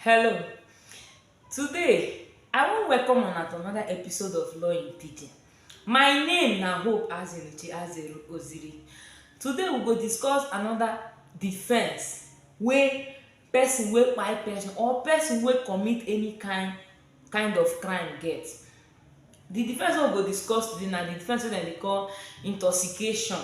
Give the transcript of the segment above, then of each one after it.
Hello. Today, I wan welcome una to another episode of Law in Pidgin. My name na Hope Azenuchi Azeru Oziri. Today, we go discuss another defense wey person wey kpai person or person wey commit any kind kind of crime get. The defense wey we go discuss today na the defense wey dem dey call intoxication.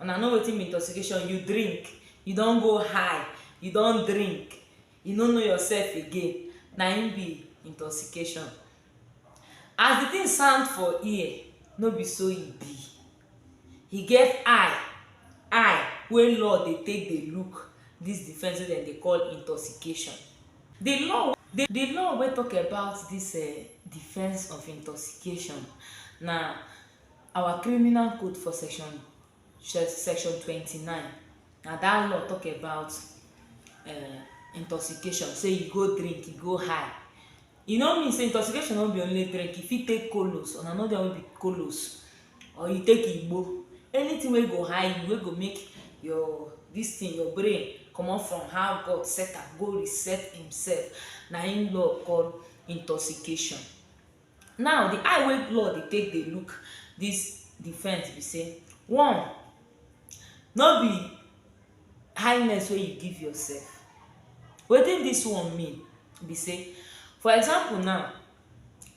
Una know wetin be intoxication, you drink, you don go high, you don drink, you no know yourself again, na im be intoxication. As the thing sound for ear, no be so e be. E get eye, eye wey law dey take dey look this defence wey dem dey call intoxication. The law, the the law wey talk about this um defence of intoxication na. Our criminal code for section section twenty nine na that law talk about um intoxication say you go drink you go high e no mean say intoxication no be only drink you fit take colos una know the one wey be colos or you take igbo anything wey go high you wey go make your this thing your brain comot from how God set am go reset himself na him law call intoxication. Now the eye wey law dey take dey look this defense be say one no be kindness wey you give yourself wetin this one mean be say for example now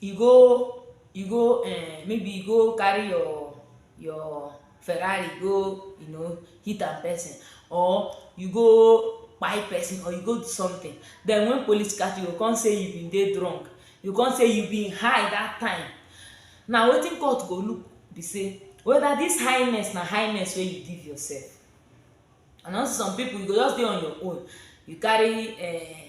you go you go um maybe you go carry your your Ferrari go you know hit am person or you go buy person or you go do something then when police catch you go come say you been dey drunk you come say you been high that time na wetin court go look be say whether this highness na highness wey you give yourself and also some people you go just dey on your own you carry uh,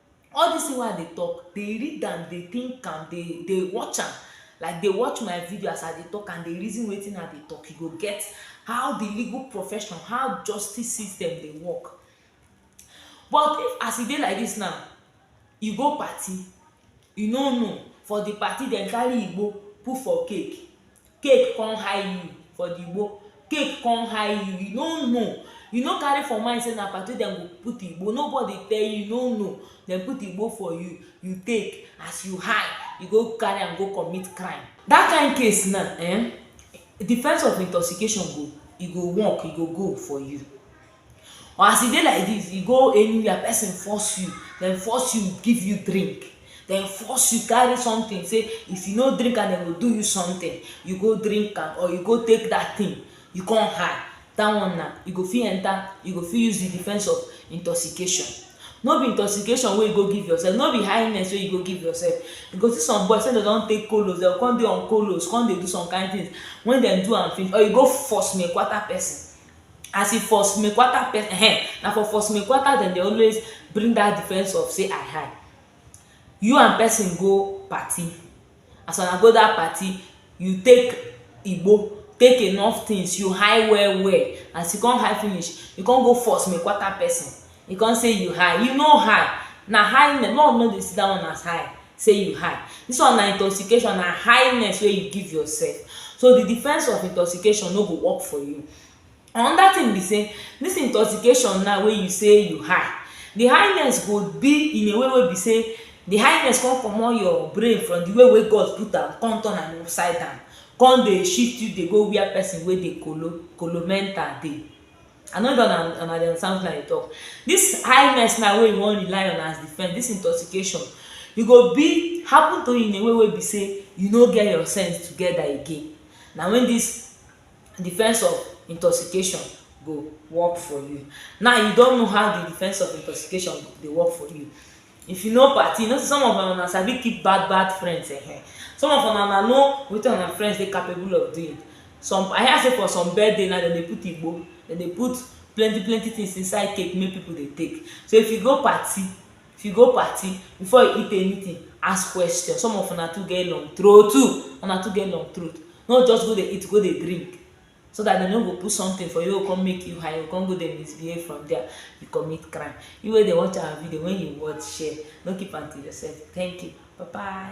all this thing wey i dey talk dey read am dey think am dey dey watch am like dey watch my video as i dey talk am dey reason wetin i dey talk you go get how the legal profession how justice system dey work but if as e dey like this now you go party you no know for the party dem carry igbo put for cake Cake come high you for the igbo cake come high you, you no know you no carry for mind say na party dem go put igbo nobody tell you, you no know dem put igbo for you, you take as you high you go carry am go commit crime that kind case now um defence of intoxication go e go work e go go for you or as e dey like this you go anywhere person force you dem force you give you drink dem force you carry something say if you no drink am dem go do you something you go drink am or you go take that thing you come hide that one na you go fit enter you go fit use the defence of intoxication no be intoxication wey you go give yourself no be highness wey you go give yourself you go see some boys say dem don take colos dem go come dey on colos come dey do some kind things when dem do am finish or you go force me kwata person as e for snake water um na for for snake water dem dey always bring dat defence of say i high you and person go party as una go dat party you take igbo take enough things you high well well as you come high finish you come go for snake water person You come say you high, you no high, na highness, love no dey see that one as high, say you high, this one na intoxication, na highness wey you give yourself, so the defense of intoxication no go work for you. Another thing be say, this intoxication now wey you say you high, the highness go be in a way wey be say the highness come comot your brain from the way wey God put am, come turn am upside down, come dey shift you dey go where person wey dey kolo, kolo mental dey. I no sure na una dey understand wetin I dey talk. This highness now wey you wan rely on as defense, this intoxication, e go be happen to you in a way wey be say you no get your sense together again. Na when this defense of intoxication go work for you. Now you don know how the defense of intoxication dey work for you. if you no party you know say some of una una sabi keep bad bad friends eh some of una una know wetin una friends dey capable of doing some i hear say for some birthday na dem dey put igbo dem dey put plenty plenty things inside cake make people dey take so if you go party if you go party before you eat anything ask question some of una too get long throat una too get long throat no just go dey eat go dey drink so that dem no go put something for you come make you high you come go dey misbehave from there you commit crime you wey dey watch our video when you watch share no keep am to yourself thank you bye bye